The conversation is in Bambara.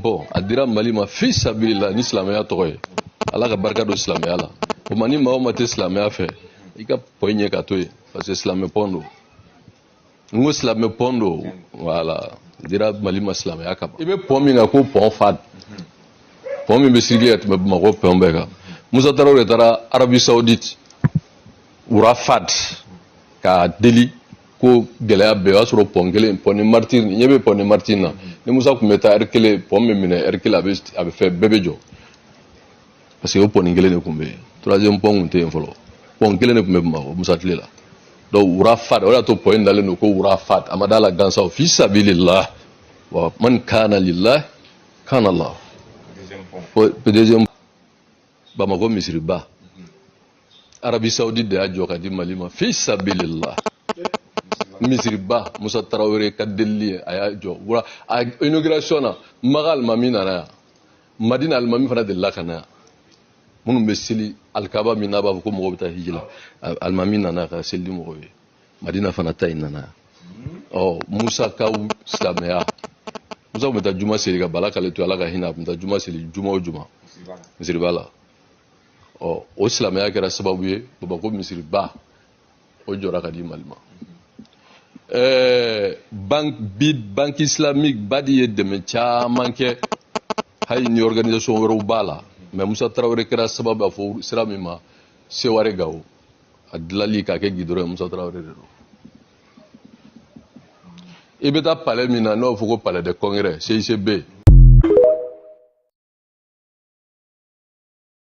bon a dira mali ma fi sabilillah ni silamɛya tɔgɔ ye ala ka barika don silamɛya la o ma ni maa o maa tɛ silamɛya fɛ i ka pɔn in ɲɛ ka to yen parce que silamɛ pɔn don n ko silamɛ pɔn don voilà a dira mali ma silamɛya kama i bɛ pɔn min kan ko pɔn fahd pɔn min bɛ circuler ka tɛmɛ bamakɔ pɔn bɛɛ kan musa tarawele de taara arabie saoudite roi fahd k'a deli ko gɛlɛya bɛɛ o y'a sɔrɔ pɔn kelen pɔn des martyrs ɲɛ bɛ pɔn des martyrs na ni musa tun bɛ taa ɛri kelen pɔn bɛ minɛ ɛri kelen a bɛ a bɛ fɛn bɛɛ bɛ jɔ parce que o pɔn kelen de tun bɛ yen troisième pɔn tun tɛ yen fɔlɔ pɔn kelen de tun bɛ bamakɔ musa tile la donc roi fahd o de y'a to pɔn in dalen don ko roi fahd a ma d'a la gansan fi sabilillah wa man kana lillah kana allah deuxième bamakɔ misiriba arabie saoudite de y'a jɔ ka di mali ma fi sabilillah misiriba musa tarawele ka delili ye a y'a jɔ wura a inauguration na maka alimami nana yan madina alimami fana delila ka na yan minnu bɛ seli alikaba min na a b'a fɔ ko mɔgɔw bɛ taa hiji la alimami nana ka seli ni mɔgɔw ye madina fana ta in nana yan ɔ musa ka silamɛya musa tun bɛ taa juma seli ka bala kale to ala ka hinɛ a tun bɛ taa juma seli juma o juma misiriba la ɔ o silamɛya kɛra sababu ye bamakɔ misiriba o jɔra ka di mali ma ɛɛ banque bi banque islamique badi ye dɛmɛ caman kɛ hali ni organisation wɛrɛw b'a la mais musa tarawele kɛra sababu ye a fɔ sira min ma seware gawo a dilali k'a kɛ gidɔrɔn ye musa tarawele de don i bɛ taa palais min na n'o b'a fɔ ko palais des congrès cicb